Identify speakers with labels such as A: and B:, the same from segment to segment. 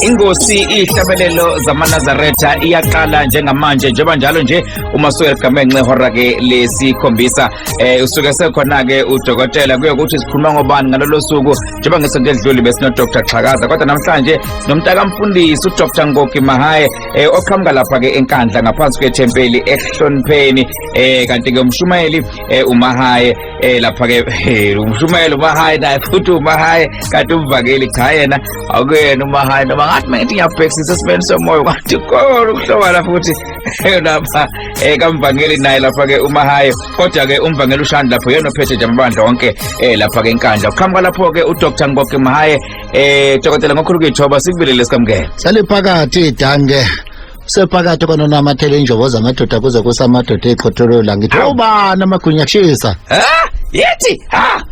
A: Inkosi ihlabelelo zamanazaretha iyaqala njengamanje njengoba njalo nje uma suyeligamence ihora ke lesikhombisa eh usuke sekhona ke udokotela kuyokuthi sikhuluma ngobani ngalolo suku njengoba ngesonto elidluli besinodr xhakaza kodwa namhlanje sinomntakamfundisi udr ngoki mahaye eh, oqhamuka lapha-ke enkandla ngaphansi kwethempeli ekuhlonipheni eh, kanti-ke umshumayeli eh, umahaye eh, lapha-ke eh, umshumayeli umahaye naye futhi umahaye kanti umvakeli cha yena akuyena umahaye noma ngathi mangithi ngiyabhekisisa esimeni somoya kanti kona ukuhlobana futhi lapha eh kamvangeli naye lapha ke umahaye kodwa ke umvangeli ushandi lapho yena ophethe nje amabandla onke eh lapha ke inkandla uqhamuka lapho ke uDr Ngoke Mahaye eh dokotela ngokhulu kithoba sikubelele sikamngeke sale phakathi
B: dange sephakathi kwanonamathela injobo zamadoda kuze kusamadoda eqhotholo la ngithi ubani amagunya kushisa ha yithi
A: ha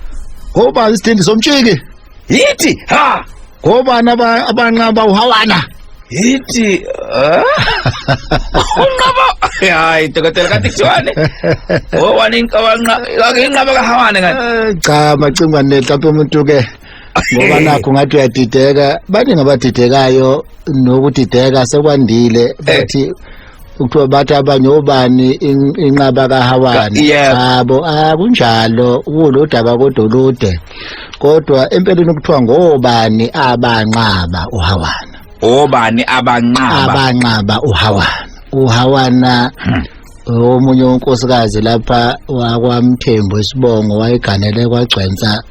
B: ngoba isithindi somtshiki Yithi ha
A: ngobani
B: aba- abanqaba uhawana yithi
A: ah. unqaba hayi dokotela kanti kuthiwani ngobani inqabanqa inqaba kahawane kanti Eh, cha macingwa
B: netape umuntu ke ngoba nakho ngathi uyadideka baningi abadidekayo nokudideka sekwandile bathi kuthiwa bathi abanye obani inqaba kahawana yabo akunjalo ah, kulodaba kodwa olude kodwa empeleni kuthiwa ngobani abanqaba uhawana obani
A: abanqaba abanqaba uhawana
B: uhawana hmm. omunye unkosikazi lapha wakwamthembu isibongo wayeganele kwagcwensa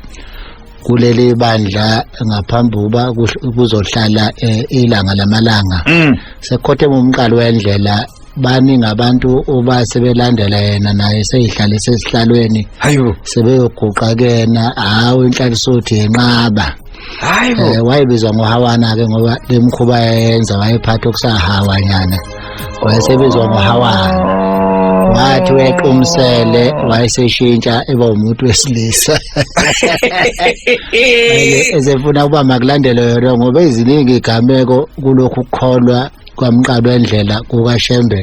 B: kuleli bandla ngaphambi kuba kuzohlala eh, ilanga lamalanga mm. sekhothe umqalo wendlela baningi abantu uba sebelandela yena naye seyihlale sesihlalweni hayo
A: sebeyoguqa
B: kena hawu inhlalisothi yenqaba hayo eh, wayebizwa ngohawana ke ngoba lemkhuba yenza wayephatha okusahawanyana wayesebizwa ngohawana wathi wequmsele wayeseshintsha eba umuntu wesilisa esefuna ukuba makulandele yona ngoba eziningi igameko kulokhu kukholwa kwamqalo endlela kukashembe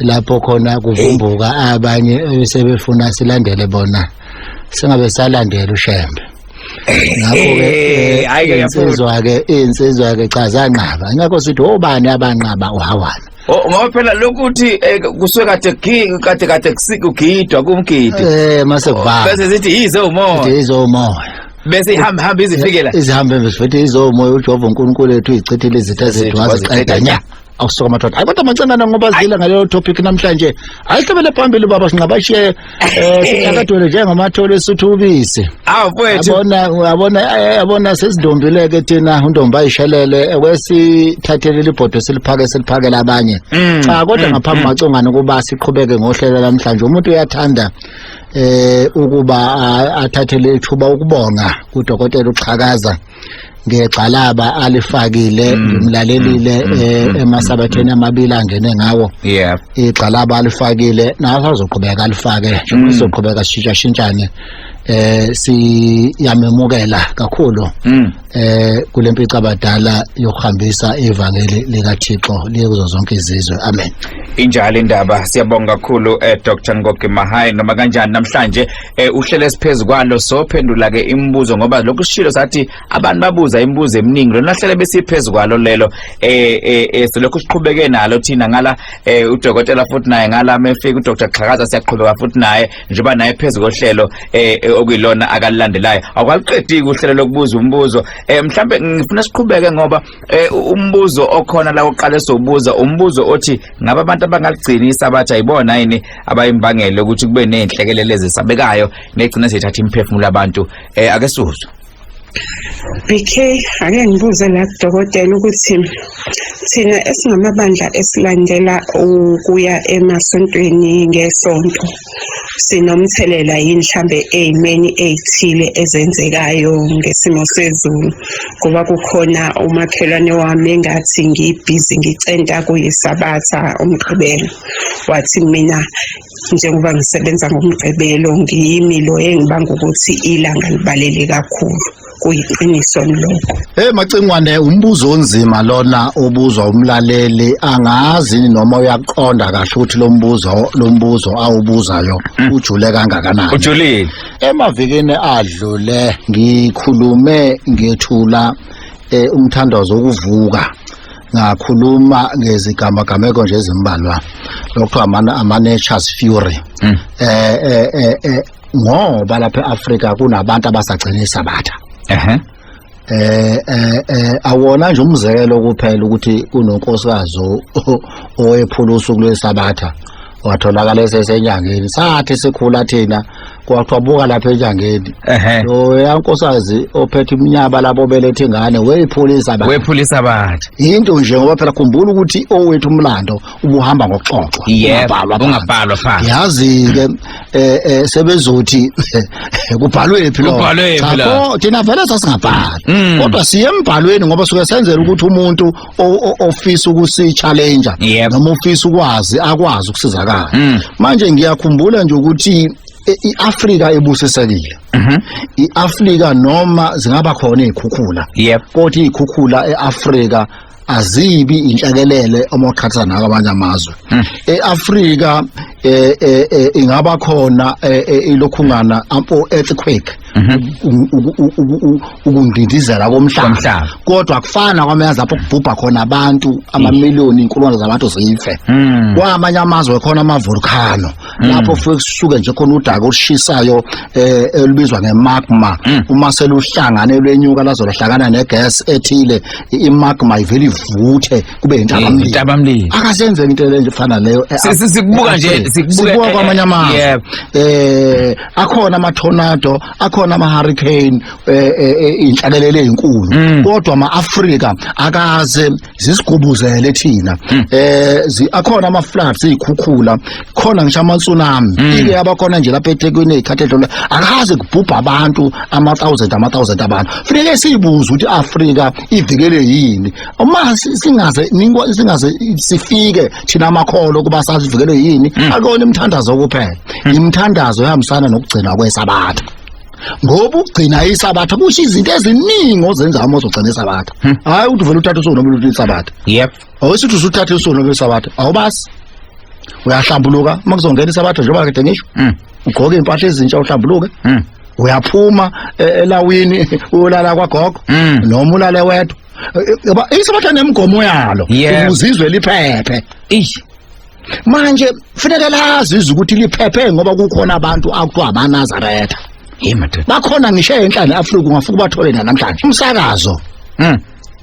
B: lapho khona kuvumbuka abanye sebefuna silandele bona singabe salandela ushembe ngakho ke eh, eh, hayi insizwa ke insizwa ke cha zanqaba ngakho sithi obani abanqaba uhawana oh, ngoba phela
A: lokuthi eh, kusuke kade gigi kade kade kusigidwa kumgidi eh mase kuvala
B: bese sithi yize umoya
A: sithi yize umoya
B: bese ihamba
A: hamba izifikela izihambe bese futhi
B: izomoya uJehova uNkulunkulu wethu izichithile izitha zethu waziqeda nya awusuka madoda hayi kodwa mancengana ngoba zile ngaleyo topic namhlanje ayihlobele phambili ubaba sinqabashiye um sinyakadwele njengamathole esuthu ubisi awu mfowethu abona
A: abona eh,
B: abona sezindombileke thina undombi ayishelele wesithathele libhodo siliphake siliphakela abanye Mm, cha kodwa mm, ngaphambi mm. macongane ukuba siqhubeke ngohlelo namhlanje umuntu uyathanda eh ukuba a- athathele ithuba ukubonga kudokotela uxhakaza ngegxalaba alifakile mm. ngimlalelile mm. eh, mm. emasabatheni amabili angene ngawo yeah igxalaba alifakile naso azoqhubeka alifake njengoba sizoqhubeka sishintsha shintshane eh siyamemukela kakhulu mm. eh kulempica abadala yokuhambisa ivangeli lika Thixo liyokuzo zonke izizwe amen injalo indaba
A: siyabonga kakhulu eh Dr Ngoke Mahayi noma kanjani namhlanje eh uhlele esiphezulu kwalo sophendula ke imibuzo ngoba lokhu sishilo sathi abantu babuza imibuzo eminingi lona hlele besiphezulu kwalo lelo eh eh, eh selokhu siqhubeke nalo thina ngala eh udokotela futhi naye ngala mefika uDr Xhakaza siyaqhubeka futhi naye njengoba naye phezulu kohlelo eh, eh okuyilona akalilandelayo akwaliqediki uhlelo lokubuza umbuzo eh mhlambe ngifuna siqhubeke ngoba eh, umbuzo okhona la oqale sobuza umbuzo othi ngaba abantu abangaligcini isabatha yibona yini abayimbangele ukuthi kube nezinhlekelele ezisabekayo negcina sithatha imiphefumulo abantu eh ake sizwe
C: BK ake ngibuze la dokotela ukuthi thina esingamabandla esilandela ukuya emasontweni ngesonto sinomthelela yini mhlambe ezimeni ezithile ezenzekayo ngesimo sezulu ngoba kukhona umakhelwane wami engathi ngibhizi ngicenta kuyisabatha umgqibelo wathi mina njengoba ngisebenza ngomgqibelo ngiyimi lo engibanga ukuthi ilanga libalele kakhulu kuyiqiniso lokho hey macingwane umbuzo
B: onzima lona obuzwa umlaleli angazi noma uyaqonda kahle ukuthi lo mbuzo lo mbuzo awubuzayo hmm. ujule kangakanani ujulile emavikini adlule
A: ngikhulume
B: ngethula eh, umthandazo wokuvuka ngakhuluma ngezigamagameko nje ezimbalwa lokuthiwa ama-natures fury um ngoba lapha e-afrika kunabantu abasagcina isabatha um um awona nje umzekelo kuphela ukuthi kunonkosikazi owephula usuku lwesabatha watholakala esesenyangeni sathi sikhula thina kwaqhabuka lapha eNjangeni ehe lo yankosazi ophethe iminyaba labo belethe ingane weyipholisa ba wephulisa bathi yinto nje ngoba phela khumbula ukuthi owethu umlando ubuhamba ngokuxoxwa yebo ungabhalwa phansi. ungabhalwa phansi yazi ke eh, eh, sebezothi kubhalwe phi lo? Kubhalwe phi Cha, la? kho, thina vele sasingabhali Mm. kodwa siye embhalweni ngoba suke senzela ukuthi umuntu ofisa ukusi challenger yep. noma ofisa ukwazi akwazi ukusizakala mm. manje ngiyakhumbula nje ukuthi e, iAfrika ebusisekile mhm. iAfrika noma zingaba khona izikhukhula yep. kodwa izikhukhula eAfrika azibi inhlekelele uma uqhatha nako abanye amazwe hmm. eAfrika eh, eh, eh, ingaba khona ilokhungana ampo earthquake ukundindizela komhlaba kodwa kufana kwamazwe apho kubhubha khona abantu amamiliyoni inkulungwane zabantu zife hmm. kwamanye amazwe khona amavolcano hmm. lapho kufuke kusuke nje khona udaka olushisayo eh, elubizwa ngemagma hmm. uma seluhlangane lwenyuka lazo lahlangana negas ethile imagma ivele ivuthe kube intabamlilo akasenzeki into lenje efana leyo eh, sikubuka nje
A: sikubuka eh, kwamanye
B: amazwe eh akhona ama-tornado akhona ama-hurricane eh, eh, eh, iy'nhlakelelo ey'nkulu Mm. kodwa ama-afrika akaze zisigubuzele thina Mm. eh zi- akhona ama-floods iy'khukhula khona ngisho ama-tsunami Mm. ike abakhona nje lapha ethekwini ey'khathi edlule akaze kubhubha abantu ama-thousand ama-thousand abantu funeke siyibuze ukuthi i-afrika ivikele yini uma si- singaze ningo- singaze sifike thina amakholo ukuba sazivikelwe yini hmm. akona imithandazo kuphela hmm. imithandazo ehambisana nokugcinwa kwesabatha ngoba ugcina isabatha kusho izinto eziningi ozenza uma uzogcina isabatha hmm. hayi ukuthi uvele uthathe usuku noma uluthe isabatha yep awusithi usuthathe usuku noma isabatha awubasi uyahlambuluka uma kuzongena isabatha njengoba kade ngisho ugqoke impahla ezintsha uhlambuluke uyaphuma e, elawini uyolala kwagogo noma ulale wedwa Yaba isobatha nemigomo yalo Yebo. ukuze izwe liphephe. Eish. Manje kufanele lazi izwe ukuthi liphephe ngoba kukhona abantu akuthiwa amaNazaretha. Hey madoda. Bakhona ngisho enhla neAfrika ungafika ubathole na namhlanje. Umsakazo Mm.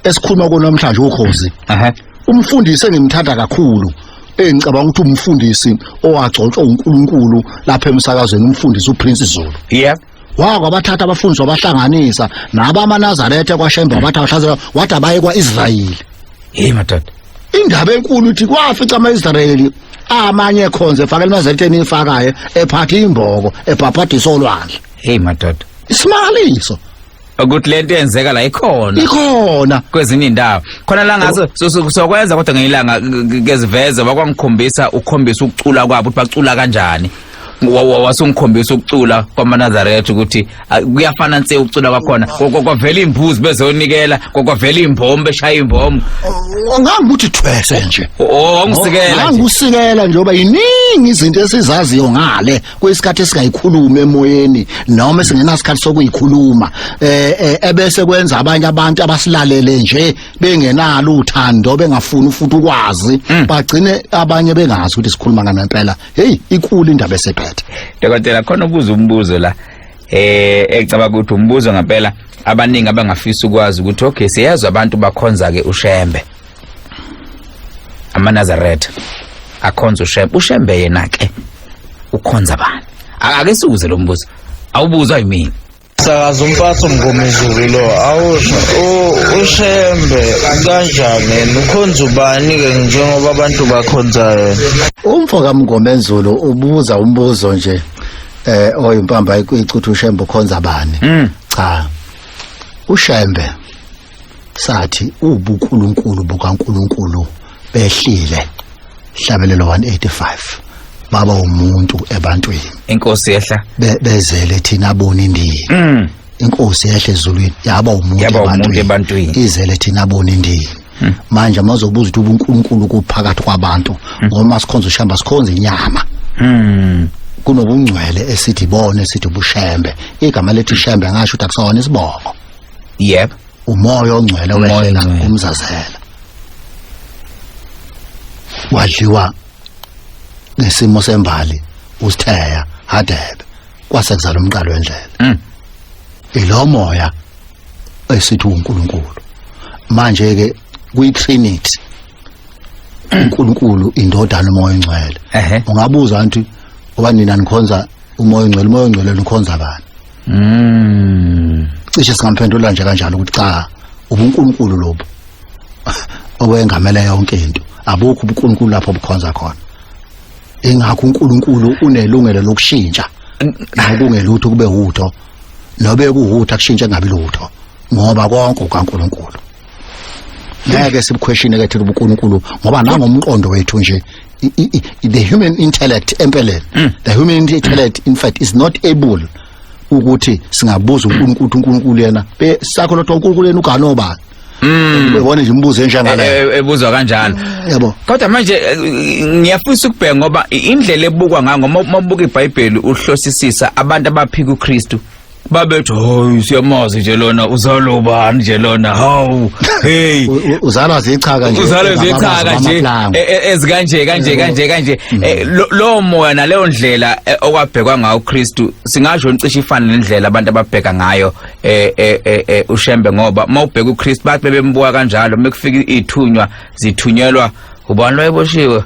B: esikhuluma kuwo namhlanje ukhozi. Aha. Umfundisi engimthanda kakhulu engicabanga ukuthi umfundisi owagcotshwa uNkulunkulu lapha emsakazweni umfundisi uPrince Zulu. Yep. wako abathatha abafundisi wabahlanganisa nabo amanazaretha kwashembe wabathi abahlaza wathi abaye kwa-israyeli hey madoda
A: indaba
B: enkulu uthi kwafica ama-israyeli amanye ekhonze efaka elinazaretheni ifakayo ephatha imboko ebhabhadisa olwandle hey madoda
A: isimangaliso
B: ukuthi
A: lento yenzeka la ikhona ikhona kwezinye indawo khona la ngaso sokwenza kodwa ngeyilanga keziveze bakwangikhombisa ukhombisa ukucula kwabo ukuthi bacula kanjani wasungikhombisa ukucula kwamanazaretha ukuthi kuyafana nse ukucula kwakhona kwavela imbuzi bezonikela kwavela imbombo beshaya imbombo ngangibuthi
B: thwese nje oh, oh, oh, ngangisikela
A: nje ngoba
B: yiningi izinto esizaziyo ngale kuyisikhathi esingayikhulumi emoyeni noma singenasikhathi sokuyikhuluma eh, eh ebese kwenza abanye abantu abasilalele nje bengenalo uthando bengafuni ufuthi ukwazi mm. bagcine abanye bengazi ukuthi sikhuluma ngani impela hey ikulu indaba esephethe dokotela khona
A: ubuza umbuzo la eh ecabanga ukuthi umbuzo ngempela abaningi abangafisa ukwazi ukuthi okay siyazi abantu bakhonza ke ushembe amanazaretha akhonza ushembe ushembe yena ke ukhonza bani A- ake siwuze lo mbuzo awubuzwa yimina sakaza umpaso
D: mngomezulu lo awusho U- ushembe kanjani yena ukhonza ubani-ke njengoba abantu bakhonza yena umfo
B: kamngomenzulu ubuza umbuzo nje eh oyimpamba icuthi ushembe ukhonza bani Mm. cha ushembe sathi ubukhulunkulu bukaNkulunkulu behlile hlabelelo 185 baba umuntu ebantwini inkosi yehla
A: Be- bezele thina
B: boni ndini mm. inkosi yahle ezulwini yaba umuntu Yaba umuntu ebantwini. ebantwini. Hmm. izele
A: thina boni
B: ndini manje mazobuza ukuthi ubunkulunkulu kuphakathi kwabantu ngoma sikhonza ushamba sikhonza inyama Mm. kunobungcwele esithi bona esithi ubushembe igama lethi shembe ngasho ukuthi akusona isibongo yep umoya ongcwele Umoya wehlela ongcwele.
A: umzazela
B: wadliwa ngesimo sembali usitheya hadebe kwase kuzala umqalo wendlela Mm. ilo moya esithi uNkulunkulu manje ke kwi trinity uNkulunkulu indodana umoya ongcwele Ehhe. ungabuza anti obanina nikhonza umoya ongcwele umoya ongcwele nikhonza bani Mm. Cishe singamphendula nje kanjalo ukuthi cha ubuNkulunkulu lobu owengamele yonke into. Abukho ubuNkulunkulu lapho bukhonza khona. Ingakho uNkulunkulu unelungelo lokushintsha nokungelutho kube utho nobe kuhutha kushintshe ngabi lutho ngoba konke ukaNkulunkulu. ngeke sibukhweshine ke thina ubuNkulunkulu ngoba nangomqondo wethu nje the human intellect empeleni mm. the human intellect in fact is not able ukuthi singabuza uNkulunkulu uNkulunkulu yena sakho lotho uNkulunkulu yena uganoba Mm. Ubone nje umbuzo enjangala. E, e, ebuzwa kanjalo.
A: Yabo. Kodwa manje eh, ngiyafisa ukubheka ngoba indlela ebukwa ngayo ngoba uma ubuka iBhayibheli uhlosisisa abantu abaphika uKristu babethi hoyi siyamazi nje lona uzalwa ubani nje lona hawu hey uzalwa zichaka
B: nje uzalwa zichaka nje
A: e, e, ezikanje kanje kanje kanje mm. e, lo moya naleyo ndlela okwabhekwa ngayo uKristu singasho ncishe ifana nendlela abantu ababheka ngayo ushembe ngoba mawubheka uKristu bathi bebembuka kanjalo mekufika ithunywa zithunyelwa ubani loyeboshiwe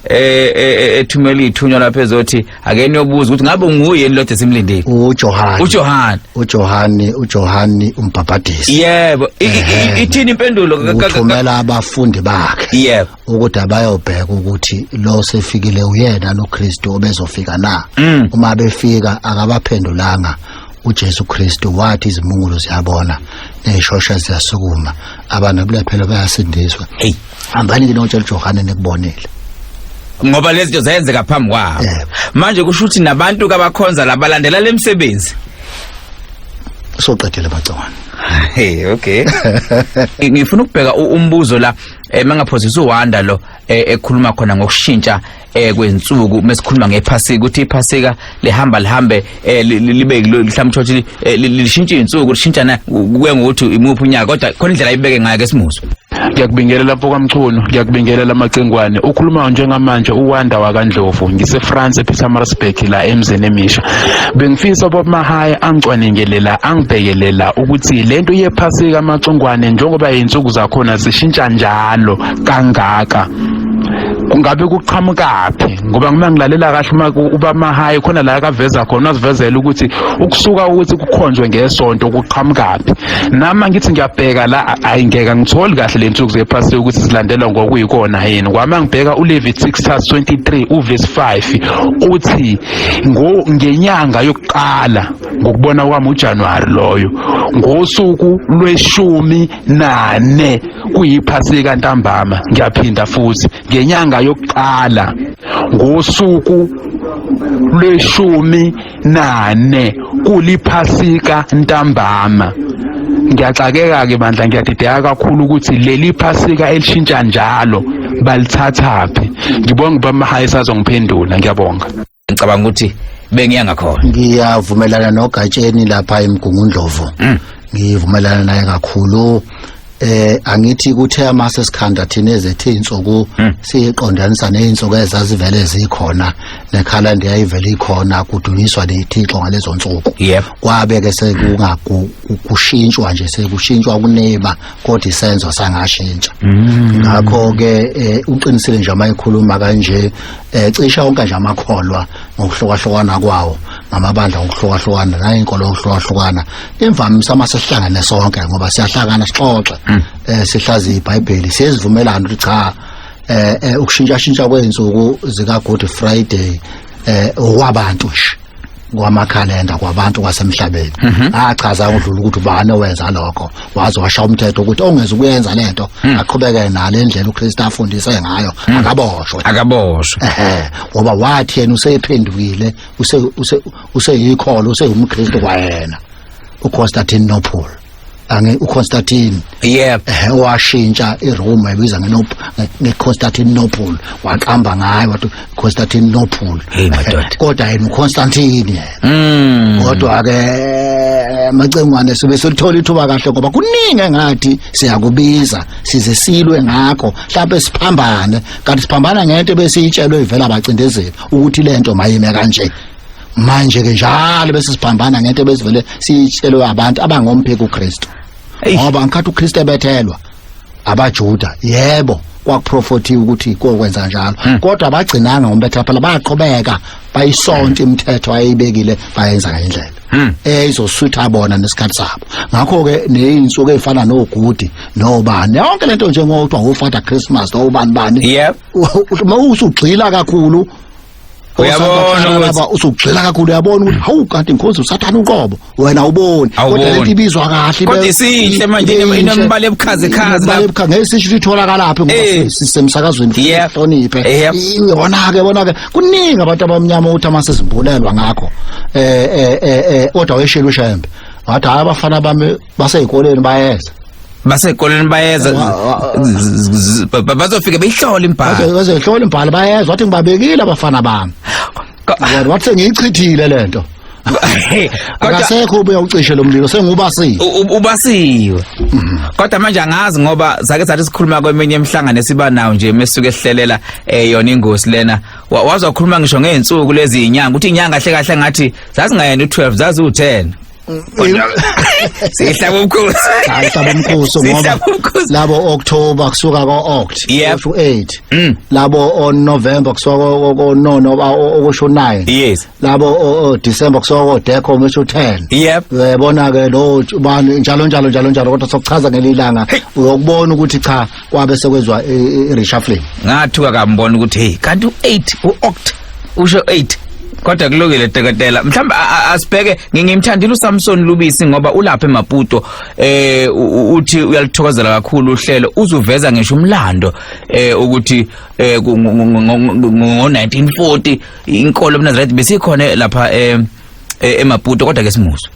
A: eh, eh, eh, ethumela ithunywa lapha ezothi ake niyobuza ukuthi ngabe nguye ni lodwa simlindile uJohane uJohane uJohane
B: uJohane umbhabhadisi yebo I- i- i-
A: Ehhe. ithini impendulo ka- ka- ka- uthumela
B: abafundi bakhe yebo ukuthi
A: abayobheka
B: ukuthi lo sefikile uyena noKristu obezofika na Mm. uma befika akabaphendulanga uJesu Kristu wathi izimungulo ziyabona nezishosha ziyasukuma abantu kulephelo bayasindiswa Hey. hambani
A: ke notshela
B: uJohane nikubonile ngoba
A: lezi zinto zayenzeka phambi kwabo Yebo. manje kusho ukuthi nabantu kabakhonza labalandela lemsebenzi soqedela
B: amagciwane hey okay
A: Ngi- ngifuna ukubheka u- umbuzo la eh, mangaphosisa uwanda lo eh, ekhuluma khona ngokushintsha eh kwensuku mesikhuluma ngephasika ukuthi iphasika lihamba lihambe eh, libe mhlawumbe ukuthi eh, lishintshe izinsuku lishintshana kuye ngokuthi imuphi unyaka kodwa khona indlela ayibeke ngayo ke simuzo ngiyakubingelela lapho
E: kamchunu ngiyakubingelela amacingwane ukhulumayo njengamanje uwanda wakandlovu ngisefrance epietermarsburg la emzini emisha bengifisa bob mahaya angicwaningelela angibhekelela ukuthi le nto yephasika amacingwane njengoba yinsuku zakhona zishintsha njalo kangaka kungabe kuqhamukaphi ngoba uma ngilalela kahle uma uba mahayi khona la akaveza khona wazivezela ukuthi ukusuka ukuthi kukhonjwe ngesonto kuqhamukaphi nama ngithi ngiyabheka la ayi ngeke ngitholi kahle le nsuku zephasile ukuthi zilandelwa ngokuyikona yini kwama ngibheka uLevitics 23 uverse 5 uthi ngenyanga yokuqala ngokubona kwami uJanuary loyo ngosuku lweshumi nane kuyiphasika ntambama ngiyaphinda futhi ngenyanga yokuqala ngosuku lweshumi nane kuliphasika ntambama ngiyaxakeka ke bandla ngiyadideka kakhulu ukuthi leli phasika elishintsha njalo balithathaphi ngibonga ubamahayisa azongiphendula ngiyabonga ngicabanga ukuthi
A: bengiya ngakhona ngiyavumelana
B: nogatsheni lapha emgungundlovu mm. ngivumelana naye kakhulu eh angithi kuthe amase sikhanda thina ezethe insuku mm. siqondanisa nezinsuku ezazivele zikhona nekhala ndiyayivele ikhona kudunyiswa lethixo ngalezo nsuku kwabe ke sekungakushintshwa nje sekushintshwa kuneba kodwa isenzo sangashintsha mm. ngakho ke eh, uqinisile nje amayikhuluma kanje eh cisha onke nje amakholwa ngokuhlokahlokana kwawo ngamabandla ngokuhlokahlokana nayinkolo ngokuhlokahlokana imvamisa uma sihlangene sonke ngoba siyahlangana sixoxe hmm. eh sihlazi iBhayibheli siyezivumelana ukuthi cha eh, eh ukushintsha shintsha kwezinsuku zika Good Friday eh okwabantu nje kwamakhalenda kwabantu kwasemhlabeni mhm. achaza udlula ukuthi ubani owenza lokho waze washa umthetho ukuthi ongeza ukuyenza lento mhm. aqhubeke nale ndlela uKristu afundise ngayo mhm. akaboshwe akaboshwe ehe ngoba wathi yena usephendukile use useyikholo useyumkristu kwayena uConstantine Nopol ange uConstantine yep ehe washintsha iRome wayibiza ngenop ngeConstantinople waqamba ngayo wathi Constantinople hey madoda kodwa yena uConstantine yena mm. kodwa ke macengwane sibe silithola ithuba kahle ngoba kuningi engathi siyakubiza size silwe ngakho mhlawumbe siphambane kanti siphambana ngento ebesiyitshelwe ivela abacindezeli ukuthi lento mayime kanje manje ke njalo bese siphambana ngento ebesivele sitshelwe abantu abangompheki uKristu ngoba ngikhathi uKristu ebethelwa abaJuda yebo kwakuprofothiwe ukuthi kokwenza njalo hmm. kodwa abagcinanga ngombetha phela baqhubeka bayisonta imithetho ayibekile bayenza ngendlela hmm. eyizosutha bona nesikhathi sabo ngakho ke nezinsuku ezifana nogudi nobani yonke lento njengokuthi uFather Christmas nobani bani yep uma usugxila kakhulu uyabona ukuthi usugxila kakhulu uyabona ukuthi hawu kanti inkosi usathana uqobo wena uboni kodwa lento ibizwa kahle kodwa isihle manje
A: inemibala ebukhaze khaze la ebukhaze ngesisho
B: ukuthi itholakala laphi ngoba eh. sisemsakazweni hloniphe eh, yona ke bona ke kuningi abantu abamnyama ukuthi amase zimbulelwa ngakho eh eh eh, eh kodwa weshela ushembe wathi hayi abafana bami basezikoleni bayeza basezikoleni bayeza
A: bazofike beyihlole imbhalo bazoyihlola imbhalo bayeza
B: wathi ngibabekile abafana bami kodwa wathi sengiyichithile lento akasekho ubuya ucishe lo mlilo sengubasiwe ubasiwe
A: mm. kodwa manje angazi ngoba sake sathi sikhuluma kweminye emhlangano esiba nawo nje mesuke ehlelela eh, yona ingozi lena wazokhuluma ngisho ngeensuku lezi inyanga ukuthi inyanga kahle kahle ngathi zazingayena u12 zazi u10 sihlaba umkhosi hayi hlaba umkhosi ngoba
B: Sihlaba umkhosi. labo October kusuka ko Oct Yep. to 8 Mm. labo o November kusuka ko- ko no no ba- o- okusho 9 yes labo o- o December kusuka ko Deco okusho 10 yep uyabona ke lo ubani njalo njalo njalo njalo kodwa sokuchaza ngelilanga uyokubona ukuthi cha kwabe sekwezwa i-reshuffling ngathuka kambona
A: ukuthi hey kanti u-8 u-oct usho 8 kodwa kulungile teketela mhlawumbe asibheke ngingimthandile uSamson Lubisi ngoba ulapha eMaputo eh uthi uyalithokozela kakhulu uhlelo uzuveza ngisho umlando eh ukuthi eh, ngo-1940 inkolo ebunazaretha besikhona lapha eh, eh, emaputo kodwa ke simuzwe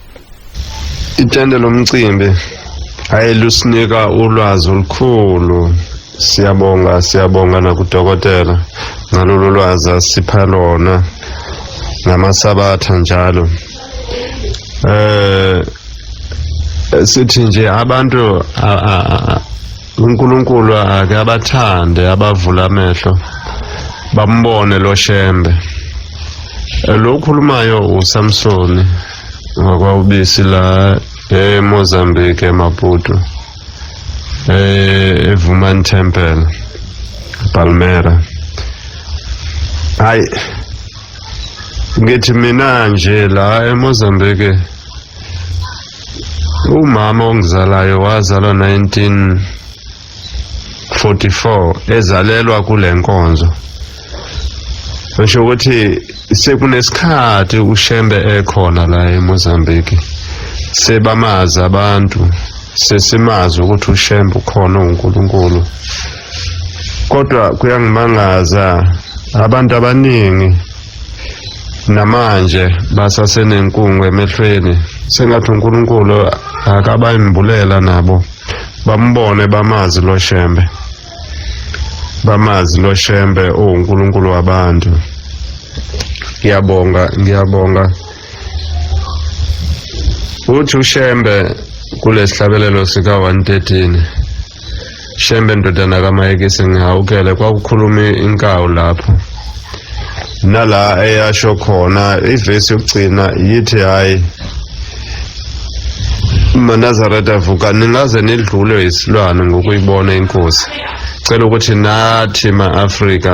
F: Itende lomcimbi hayi lusinika ulwazi olukhulu siyabonga siyabonga nakudokotela ngalolu lwazi asipha lona ngamasabatha njalo eh sithi nje abantu uNkulunkulu ake abathande abavula amehlo bambone lo shembe lo ukhulumayo uSamsoni ngokwaubisi la eMozambique eMaputo eh eVuman Temple Palmera hayi ngithi mina nje la eMozambique Umama ongizalayo wazalwa 1944 ezalelwa kule nkonzo. Ngisho ukuthi sekunesikhathi uShembe ekhona la eMozambique. Sebamazi abantu, sesimazi ukuthi uShembe ukhona uNkulunkulu. Kodwa kuyangimangaza abantu abaningi namanje basasenenkungu emehlweni sengathi uNkulunkulu akabayimbulela nabo bambone bamazi lo shembe bamazi lo shembe uNkulunkulu wabantu ngiyabonga ngiyabonga uthi ushembe kulesihlabelelo sika 113 Shembe ndodana kaMike sengihawukele kwakukhuluma inkawu lapho nala eyasho khona ivesi yokugcina yithi hayi manazareth avuka ningaze nidlulwe yisilwane ngokuyibona inkosi cela ukuthi nathi ma-afrika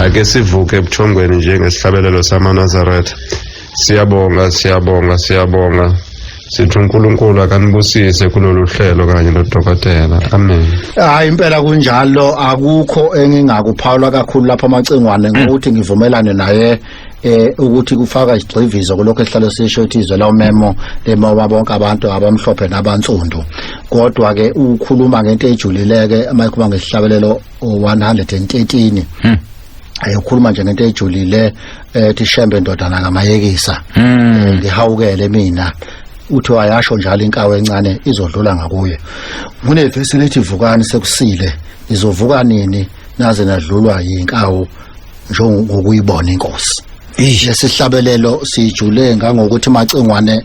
F: ake sivuke ebuthongweni njengesihlabelelo samanazaretha siyabonga siyabonga siyabonga sithi uNkulunkulu akanibusise kulolu hlelo kanye nodokotela amen hayi impela
B: kunjalo akukho engingakuphawula kakhulu lapha amacingwane mm. ngokuthi ngivumelane naye eh ukuthi kufaka isigxivizo kulokho esihlalo sisho ukuthi izwe la umemo lemawa bonke abantu abamhlophe nabansundu kodwa ke ukhuluma ngento ejulileke uma ikhuluma ngesihlabelelo 113 ayokhuluma nje ngento ejulile ethi eh, shembe ndodana kamayekisa hmm. ngihawukele mina uthi wayasho njalo inkawe encane izodlula ngakuye kunevesi lethi vukani sekusile izovuka nini naze nadlulwa yinkawo njengokuyibona inkosi lesihlabelelo sijule ngangokuthi macingwane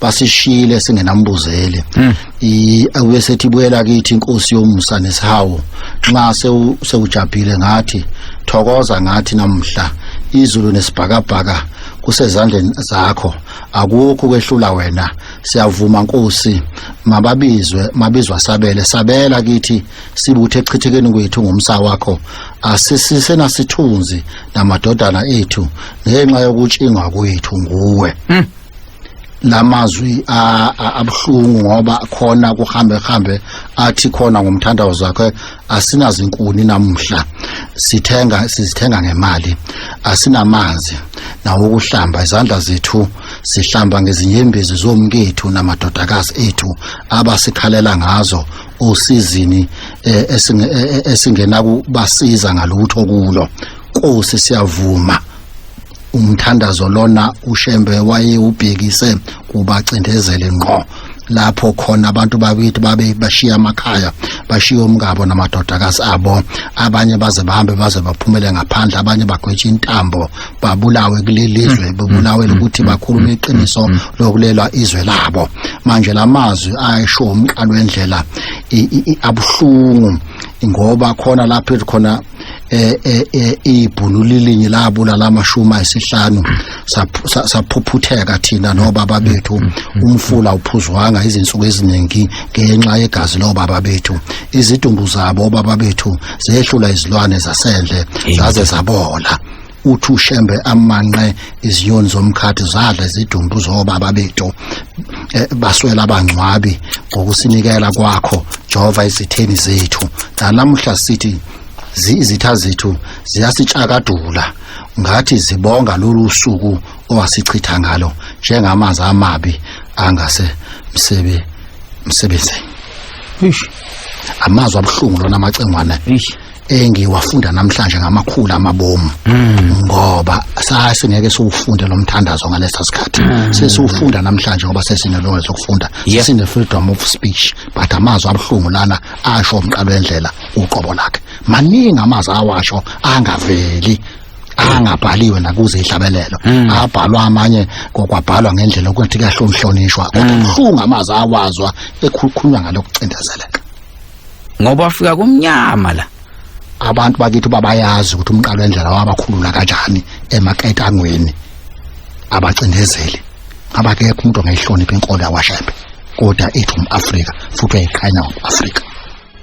B: basishiyile singenambuzeli hmm. i awuye sethi buyela kithi inkosi yomusa nesihawu nxa sewujabhile ngathi thokoza ngathi namhla izulu nesibhakabhaka kusezandleni zakho akukho kwehlula wena siyavuma nkosi mababizwe mabizwa sabele sabela kithi sibuthe echithekeni kwethu ngomsa wakho asisisena sithunzi namadodana ethu ngenxa yokutshingwa kwethu nguwe mm. lamazwi abuhlungu ngoba khona kuhambe hambe athi khona ngomthandazo zakhe asinazinkuni namhla sithenga sizithenga ngemali asinamanzi nawo ukuhlamba izandla zethu sihlamba ngezinyembezi zomkethu namadodakazi ethu abasikhalela ngazo osizini eh, eh, esingena kubasiza ngalutho kulo Nkosi siyavuma umthandazo lona ushembe wayewubhekise kubacindezeli ngqo lapho khona abantu bakithi babe bashiya amakhaya bashiya umngabo namadodakazi abo abanye baze bahambe baze baphumele ngaphandle abanye bagwetshe intambo babulawe kulelizwe mm. bebulawe mm. ukuthi mm. bakhulume iqiniso lokulelwa izwe labo manje lamazwi ayisho umqalo wendlela abuhlungu ngoba khona lapho khona eh eh, eh ibhunu lilinye labulala amashumi ayisihlanu saphuphutheka thina nobaba bethu umfula uphuzwanga izinsuku eziningi ngenxa yegazi lobaba bethu izidumbu zabo baba bethu zehlula izilwane zasendle zaze zabola uthi ushembe amanqe izinyoni zomkhathi zadla izidumbu zobaba bethu eh, baswela abangcwabi ngokusinikela kwakho jehova izitheni zethu nalamuhla sithi izitha zethu ziyasitshakadula ngathi zibonga lolu suku owasichitha ngalo njengamanzi amabi angase msebe msebenzeni amazwi abuhlungu lona amacengwana engiwafunda namhlanje ngamakhulu amabomu hmm. ngoba sasingeke siwufunde lo mthandazo ngalesa sikhathi hmm. sesiwufunda namhlanje ngoba sesinelungelo lokufunda sesine freedom of speech but amazwi abuhlungu lana asho umqalo wendlela uqobo lakhe maningi amazwi awasho angaveli angabhaliwe nakuze ihlabelelo hmm. abhalwa amanye kokwabhalwa ngendlela ukuthi kahlonhlonishwa kodwa kuhlunga amazi awazwa ekhukhulwa ngalokucindezeleka ngoba
A: wafika kumnyama la abantu bakithi
B: babayazi ukuthi umqalo endlela wabakhulula kanjani emaketangweni abacindezeli abakekho umuntu ongayihlonipha inkolo yakwashembe kodwa ithi um-afrika futhi uyayiqhanya um-afrika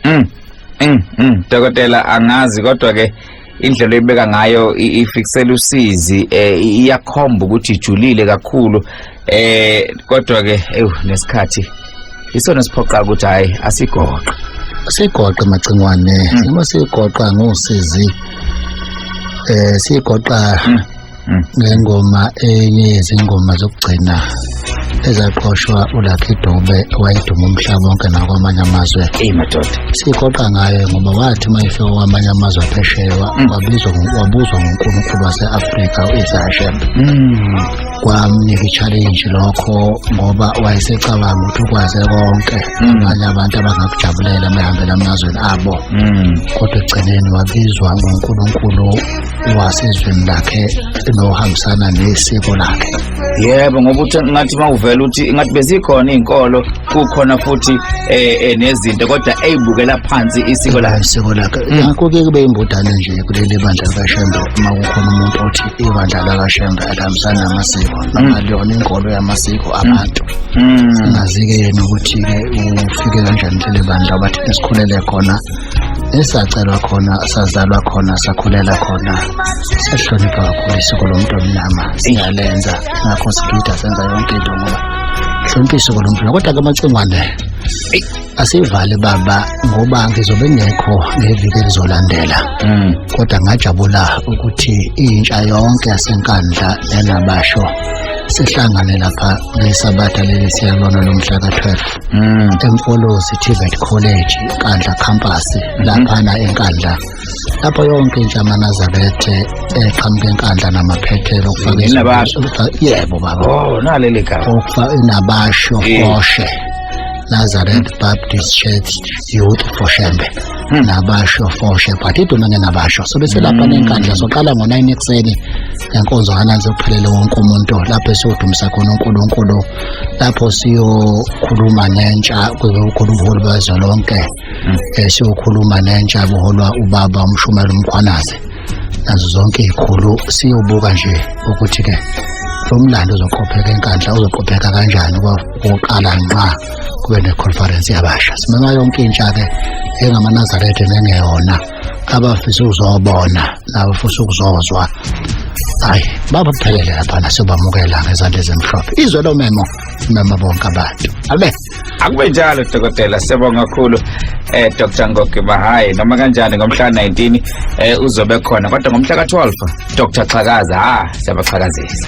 B: mm, mm, mm.
A: dokotela angazi kodwa-ke indlela oyibeka ngayo ifiksela usizi eh, iyakhomba ukuthi ijulile kakhulu eh kodwa ke ewu nesikhathi isona siphoqa ukuthi hayi asigoqe sigoqe
B: macingwane hmm. uma sigoqa ngosizi eh sigoqa hmm. mm. ngengoma enye yezingoma zokugcina ezaqoshwa uLucky Dube owayeduma umhlaba wonke nakwamanye amazwe eyimadoda
A: sigoqa ngaye
B: ngoba wathi uma efika kwamanye amazwe aphesheya mm. wabizwa wabuzwa nguNkulunkulu wase-Afrika u-Isahashem mm. kwamnika i-challenge lokho ngoba wayesecabanga ukuthi ukwaze konke mm. abanye abantu abangakujabulela mehambela amazweni abo kodwa ekugcineni wabizwa nguNkulunkulu wasezweni lakhe nohambisana nesiko lakhe yebo ngoba uthi
A: ngathi mawuvela uthi ngathi bezikhona izinkolo kukhona futhi eh, eh nezinto kodwa eyibukela phansi isiko lakhe isiko lakhe mm. ngakho ke
B: kube imbodane nje kuleli bandla likaShembe uma kukhona umuntu othi ibandla likaShembe alihambisana namasiko mm. noma liyona inkolo yamasiko mm. abantu singazi-ke yena ukuthi-ke ufike kanjani leli bandla bathi esikhulele khona esacelwa khona sazalwa khona sakhulela khona siyahlonipha kakhulu isiko lomuntu omnyama singalenza ngakho sigida senza yonke into ngoba hlonipha isiko lomuntu kodwa-ke amacingwane asivale baba ngoba ngizobe ngekho ngeviki elizolandela mm. kodwa ngajabula ukuthi intsha yonke yasenkandla yanabasho sihlangane lapha ngesabatha leli siyalona lomhla ka-12 Mm. emfolozi tvet college nkandla campus mm-hmm. laphana enkandla lapho yonke intsha amanazabethe eqhamuka enkandla namaphethelo yebo baba
A: oh, nabasho
B: koshe Nazareth Baptist Church Youth for Shembe hmm. nabasho foshe but iduma ngenabasho so bese lapha hmm. nenkandla soqala ngo-9 ekuseni ngenkonzo kananzi kuphelele wonke umuntu lapho esiwudumisa khona unkulunkulu lapho siyokhuluma nentsha kuzokhuluma ubuholi bezwe lonke um siyokhuluma nentsha buholwa ubaba umshumela umkhwanazi nazo zonke iy'khulu siyobuka nje ukuthi-ke lo mlando uzoqopheka enkandla uzoqopheka kanjani ukuqala nxa kube neconference yabasha simema yonke intsha-ke engamaNazaretha nengeyona abafisa ukuzobona nabafisa ukuzozwa hayi babaphelele laphana sobamukela ngezandla ezimhlophe izwe lomemo mema bonke abantu abe akube njalo
A: dokotela siyabonga kakhulu eh Dr Ngogi Mahayi noma kanjani ngomhla 19 eh uzobe khona kodwa ngomhla ka 12 Dr Xhakaza ha siyabaxhakazisa